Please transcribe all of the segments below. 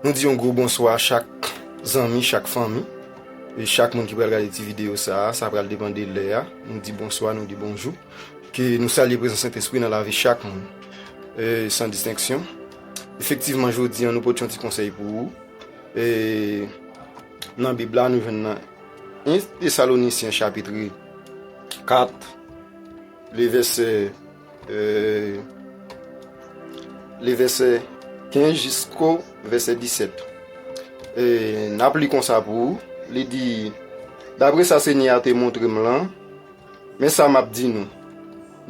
Nou di yon gwo bonswa a chak zanmi, chak fanmi, e chak moun ki pral gade ti videyo sa a, sa pral depan de lè a, nou di bonswa, nou di bonjou, ke nou salye prezans Sentespri nan lavi chak moun, e san distenksyon. Efektivman jodi an nou pot yon ti konsèy pou ou, e nan bib la nou jwenn nan 1 Tesalonisyen chapitri 4 le vèsè. Li vèsè 15 jisko vèsè 17. E n ap li konsa pou ou, li di, Dapre sa Senyè a te montre m lan, men sa m ap di nou,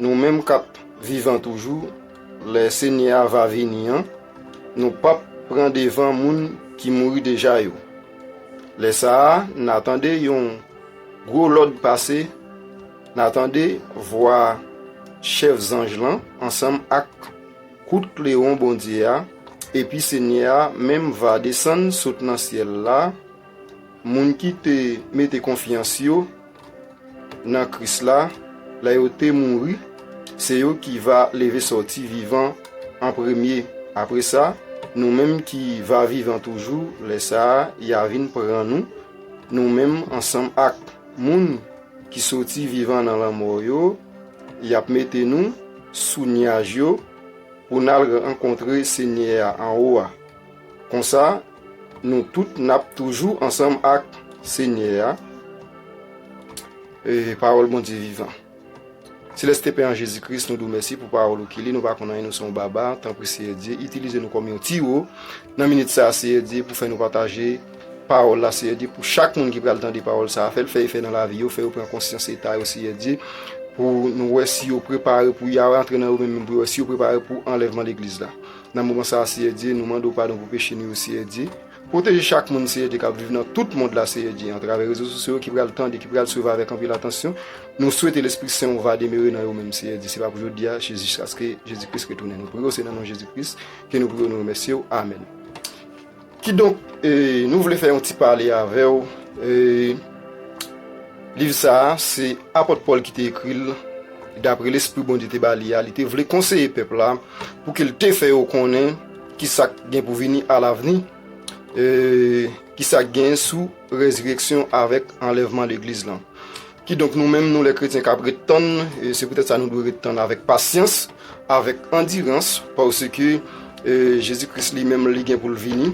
nou menm k ap vivan toujou lè Senyè a va vini an, nou p ap pran devan moun ki mouri deja yo. Lè sa a, n a tande yon gwo lòd pase, N a tande vwa chèf zanj lan ansanm ak kout klewon Bondye a, epi Senyè a menm va desann sot nan syèl la, moun ki te mete konfyans yo nan Kris la lè yo te mouri, se yo ki va leve sòti vivan an premye. Apre sa, nou menm ki va vivan toujou lè sa a, y a vin pran nou, nou menm ansanm ak moun. Ki soti vivan nan lanmò yo, y ap mete nou sou nyaj yo pou n al rankontre Senyè a anwo a. Konsa, nou tout n ap toujou ansanm ak Senyè a. Pawòl Bondye vivan! Celeste pen an jezi kris nou diw mèsi pou pawòl ou ki li nou pa konn anyen nou se yon baba tanpri seyè Dye itilize nou kòm yon tiwo nan minit sa seyè Dye pou fè nou pataje pawòl la seyè Dye pou chak moun ki pral tande pawòl sa fèl fè efè nan lavi yo fè yo pran konsyans eta yo seyè Dye pou nou wè si yo prepare pou ya rantre nan yo menm pou yo wè si yo prepare pou anlèvman legliz la nan moman sa seyè Dye nou mande w padon pou peche nou yo seyè Dye. Pwoteje chak moun Seyè Dye kap viv nan tout mond la Seyè Dye antravè rezo sosyo yo ki pral tande ki pral swiv avèk anpil atansyon nou swete lespri sen ou va demere nan yo menm Seyè Dye se pa pou jodia se jiskaske Jezi Kris retounen nou priye w se nan non Jezi Kris ke nou priye w nou remèsye w amèn kidonk nou vle fè yon ti pale avèw liv sa a se Apòt Pòl ki te ekri l daprè lespri Bondye te ba li a li te vle konseye pèp la pou ke l te fè yo konnen. Ki sa k gen pou vini alavni? Ki sa k gen sou rezireksyon avèk anlèvman legliz lan? Kidonk nou menm nou lè kretyen k ap ret tann, se poutèt sa nou dwe ret tann avèk pasyans, avèk andirans, paske Jezi Kris li menm li gen pou l vini,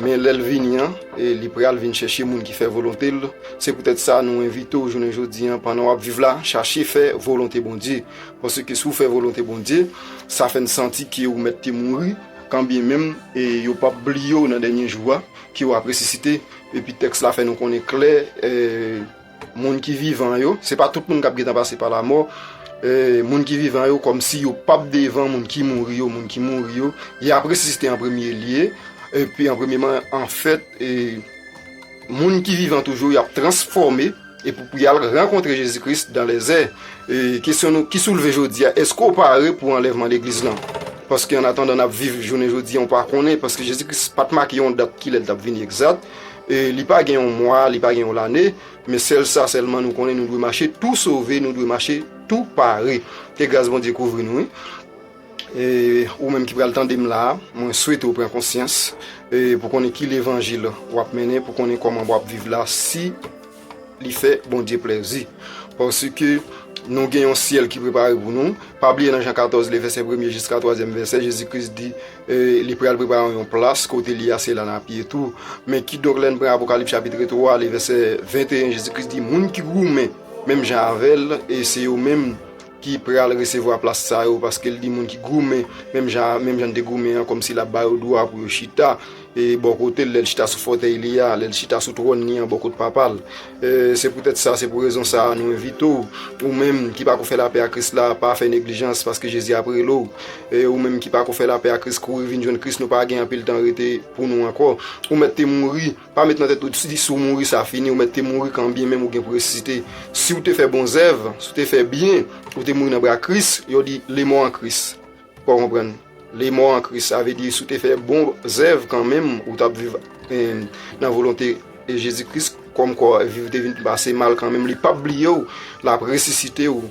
men lè l vini an, li pral vin chèche moun ki fè volonte l. Se poutèt sa nou envite w jounen jodi an, pandan w ap viv la, chache fè volonte Bondye. Paske si w fè volonte Bondye, sa fè n santi ke ou mèt te mouri, kanbyen menm yo p ap bliye w nan dènye jou a, ke w ap resisite. Epi tèks la fè nou konnen klè, moun ki vivan yo, se pa tout moun k ap gentan pase pa lamò, moun ki vivan yo kòmsi yo p ap devan moun ki mouri yo, moun ki mouri yo, y ap resisite an premye lye, epi an premyeman, anfèt. Moun ki vivan toujou yo ap transfòme epi pou y al rankontre Jezi Kris dan lè zè. E kesyon nou ki soulve jodi a, èske w pare pou anlèvman legliz lan? Paske annatandan n ap viv jounen jodi an, w pa konnen, paske Jezi Kris pa t make yon dat kilè l t ap vini egzat, e li pa gen yon mwa, li pa gen yon lane, men sèl sa sèlman nou konnen, nou dwe mache tou sove, nou dwe mache tou pare. Ke gras Bondye kouvri nou wi. E ou menm ki pral tande m la a, mwen swete ou pran konsyans pou konnen ki levanjil w ap mennen, pou konnen kòman w ap viv la, si li fè Bondye plèzi. Paske nou gen yon syèl ki prepare pou nou. Pa bliye nan Jan 14, le vèsè premye jiska twazyèm vèsè, Jezi Kris di li pral prepare nou yon plas, kote li a se la n ap ye tou. Men kidonk lè n pran Apokalips chapitre 3, le vèsè 21, Jezi Kris di moun ki goumen menm jan avè l, se yo menm. ki pral resevwa plas sa yo paske l di moun ki goumen menm jan menm jan n te goumen an kòmsi l ap ba yo dwa pou yo chita e bò kote l lè l chita sou fòtèy li a lè l chita sou twòn li an bò kot papa l se poutèt sa se pou rezon sa a nou envite w ou menm ki pako fè lapè a Kris la pa fè neglijans paske Jezi ap rele w e ou menm ki pako fè lapè a Kris kouri vin jwenn Kris nou pa gen anpil tan rete pou nou ankò ou mèt te mouri. Pa met nan tèt ou di si w mouri sa fini, ou mèt te mouri kanbyen menm ou gen pou resisite. Si w te fè bon zèv, si w te fè byen, ou te mouri nan bra Kris, yo di lemò an Kris. Ou pa konprann? Lemò an Kris, sa vle di si w te fè bon zèv kanmenm ou t ap viv nan volonte Jezi Kris, kòmkwa vi w te vin pase mal kanmenm, li p ap bliye w, l ap resisite w.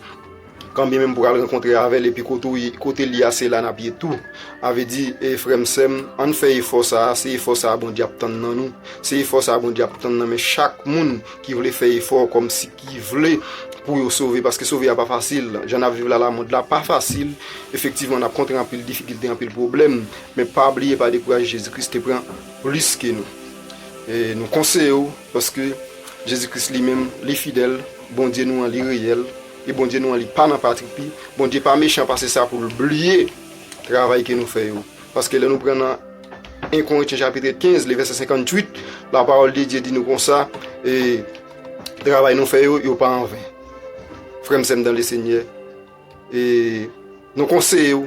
Kanbyen menm pou al rankontre avèl epi kotel ye a se la nap ye tou avedi frèm sèm ann fè efò sa se efò sa Bondye ap tann nan nou se efò sa Bondye ap tann nan men chak moun ki vle fè efò kòm si ki vle pou yo sove paske sove ya pa fasil jan nap viv la la mond la pa fasil efektivman nap kontre anpil difikilte anpil problèm men pa bliye pa dekouraje Jezi Kris te pran plis ke nou e nou konseye ou paske Jezi Kris li menm li fidèl Bondye nou an li reyèl. E Bondye nou an li pa nan patripi, Bondye pa mechan pase sa pou l bliye travay ke nou fè yo. Paske lè nou pran nan 1 Korintiens chapitre 15 le verset 58, la parole de Dieu di nou konsa, e travay nou fè yo, yo pa an ven. Frè m sè m dan le Senyè, e nou konseye w,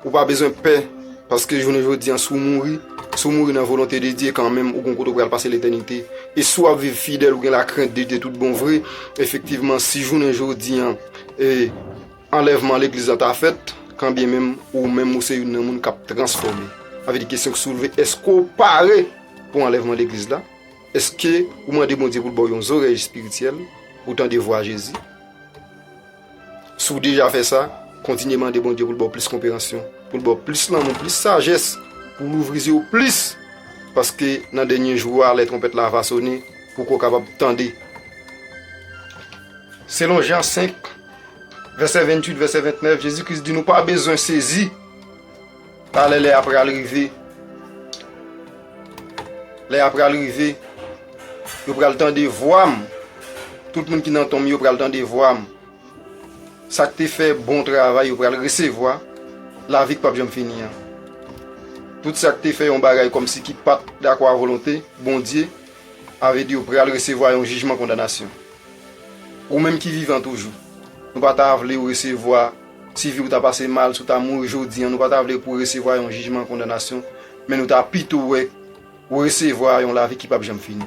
Ou pa bezwen pè, paske jounen jodi an si w mouri, si w mouri nan volonte de Dye kanmenm ou gen yon kote ou pral pase letènite. E si w ap viv fidèl ou gen lakrent de Dye tout bon vre, efektivman si jounen jodi an e anlèvman legliz la ta fèt, kanbyen menm ou menm ou se youn nan moun k ap transfòme. Sa vle di kesyon ki soulve, èske w pare pou anlèvman legliz la? Èske ou mande Bondye pou l ba w yon zorèy espirityèl pou w tande vwa Jezi? Si w deja fè sa, kontinye mande Bondye pou l ba w plis konperansyon, pou l ba w plis lanmou, plis sajès, pou w louvri zye w plis, paske nan dènye jou a, lè twonpèt la va sone, pou ke w kapab tande. Selon Jan 5, vèsè 28, vèsè 29, Jezi Kris di nou pa bezwen sezi. Talè lè a pral rive, lè a pral rive, yo pral tande vwa m, tout moun ki nan tonm yo pral tande vwa m, sa k te fè bon travay yo pral resevwa lavi k pap janm fini an, tout sa k te fè yon bagay kòmsi ki pa t dakò a volonte Bondye avèd yo pral resevwa yon jijman kondanasyon. Ou menm ki vivan toujou, nou pa ta vle ou resevwa. Si vi w ta pase mal, si w ta mouri jodi an, nou pa ta vle pou w resevwa yon jijman kondanasyon, men nou ta pito wè ou resevwa yon lavi ki pap janm fini.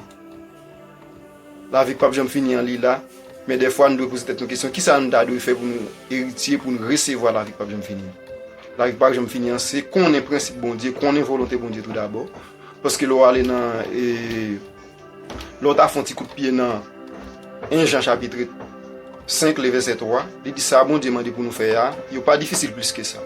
Lavi ki pap janm fini an li la, men dèfwa nou dwe poze tèt nou kesyon, ki sa nou ta dwe fè pou nou eritye, pou nou resevwa lavi ki pap janm fini an? Lavi ki pap janm fini an, se konnen prensip Bondye, konnen volonte Bondye tou dabò, paske lè w ale nan e. Lè w ta fè yon ti kout pye nan 1 Jan chapitre 5 le vèsè 3, li di sa Bondye mande pou nou fè a, yo pa difisil plis ke sa.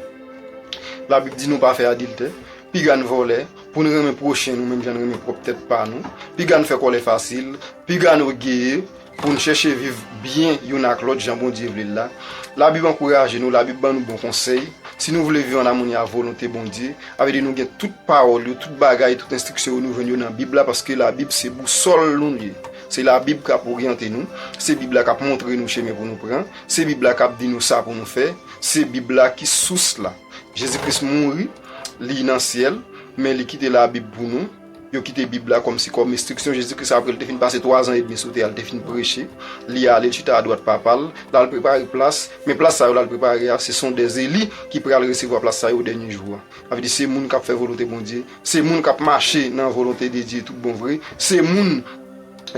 Labib di nou pa fè adiltè, piga n vòlè, pou n renmen pwochen nou menm jan n renmen pwòp tèt pa nou, piga n fè kòlè fasil, piga n ògeye, Pou n chèche viv byen youn ak lòt jan Bondye vle l la, Labib ankouraje nou, Labib ban nou bon konsèy. Si nou vle viv ann amoni ak volonte Bondye, sa vle di nou gen tout pawòl yo, tout bagay, tout enstriksyon yo, nou jwenn yo nan Bib la paske Labib se bousòl nou l ye. Se Labib k ap oryante nou, se Bib la k ap montre nou chemen pou nou pran, se Bib la k ap di nou sa pou nou fè, se Bib la ki sous la. Jezi Kris mouri, li nan syèl, men li kite Labib pou nou. Yo kite Bib la kòm sikòm enstriksyon Jezi Kris apre l te fin pase twazan edmi sou tè a, l te fin preche, li ale, l chita adwat Papa l, l al prepare plas. Men plas sa yo l al prepare a, se son dè eli ki pral resevwa plas sa yo dènye jou a. Sa vle di se moun k ap fè volonte Bondye, se moun k ap mache nan volonte de Dye toutbonvre, se moun.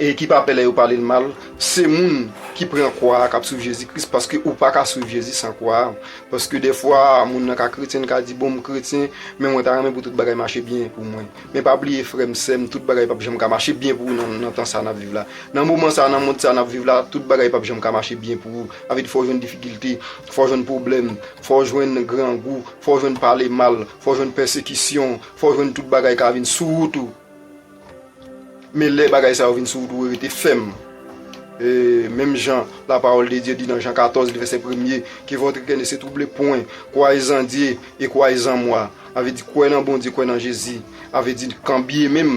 E ki pa pè lè yo pale l mal, se moun ki pran kwa a k ap swiv Jezi Kris, paske ou pa ka swiv Jezi san kwa a. Paske dèfwa moun nan ka kretyen, li ka di, bon m kretyen, men mwen ta renmen pou tout bagay mache byen pou mwen. Men pa bliye frè m, sè m, tout bagay p ap janm ka mache byen pou ou nan tan sa a n ap viv la. Nan moman sa a, nan mond sa a n ap viv la, tout bagay p ap janm ka mache byen pou ou. Sa vle di fò w jwenn difikilte, fò w jwenn pwoblèm, fò w jwenn grangou, fò w jwenn pale mal, fò w jwenn pèsekisyon, fò w jwenn tout bagay ka vin sou wout ou. Men lè bagay sa yo vin sou ou dwe rete fèm. Menm jan la parole de Dieu di nan Jean 14 le verset premye, ke votre coeur ne se trouble point, croyez en Dieu et croyez en moi. A vle di kwè nan Bondye, kwè nan Jezi. A vle di kan byen menm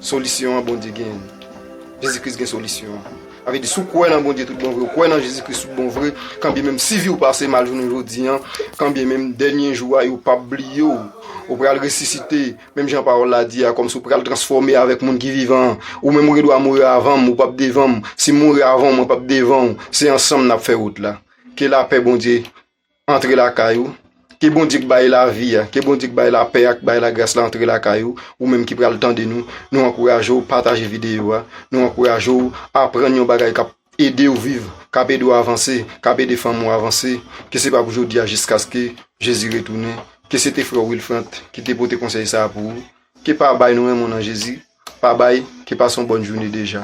solisyon an Bondye gen. Jezi Kris gen solisyon an. A vle di si w kwè nan Bondye tout bon vre, ou kwè nan Jezi Kris tout bon vre, kan byen menm si vi w pase mal jounen jodi an, kan byen menm dènye jou a yo pap bliye w. Ou pral resisite. Menm jan pawòl la di a, kòmsi ou pral transfòme avèk moun ki vivan an, ou menm ou gen dwa mouri avan m, ou p ap devan m, si m mouri avan w, mwen p ap devan w, se ansanm n ap fè wout la. Ke lapè Bondye antre lakay ou, ke Bondye k bay lavi a, ke Bondye k bay lapè a, k bay lagras la antre lakay ou, ou menm ki pral tande nou, nou ankouraje w pataje videyo a, nou ankouraje w aprann yon bagay k ap. ede ou viv, k ap ede ou avanse, k ap ede fanmi ou avanse, ke se pa pou jodi a jiskaske Jezi retounen, ke se te frè w Wilfrant ki te pote konsèy sa a pou ou, ke pa bay nou renmen w nan Jezi, pa bay, ke pase yon bòn joune deja.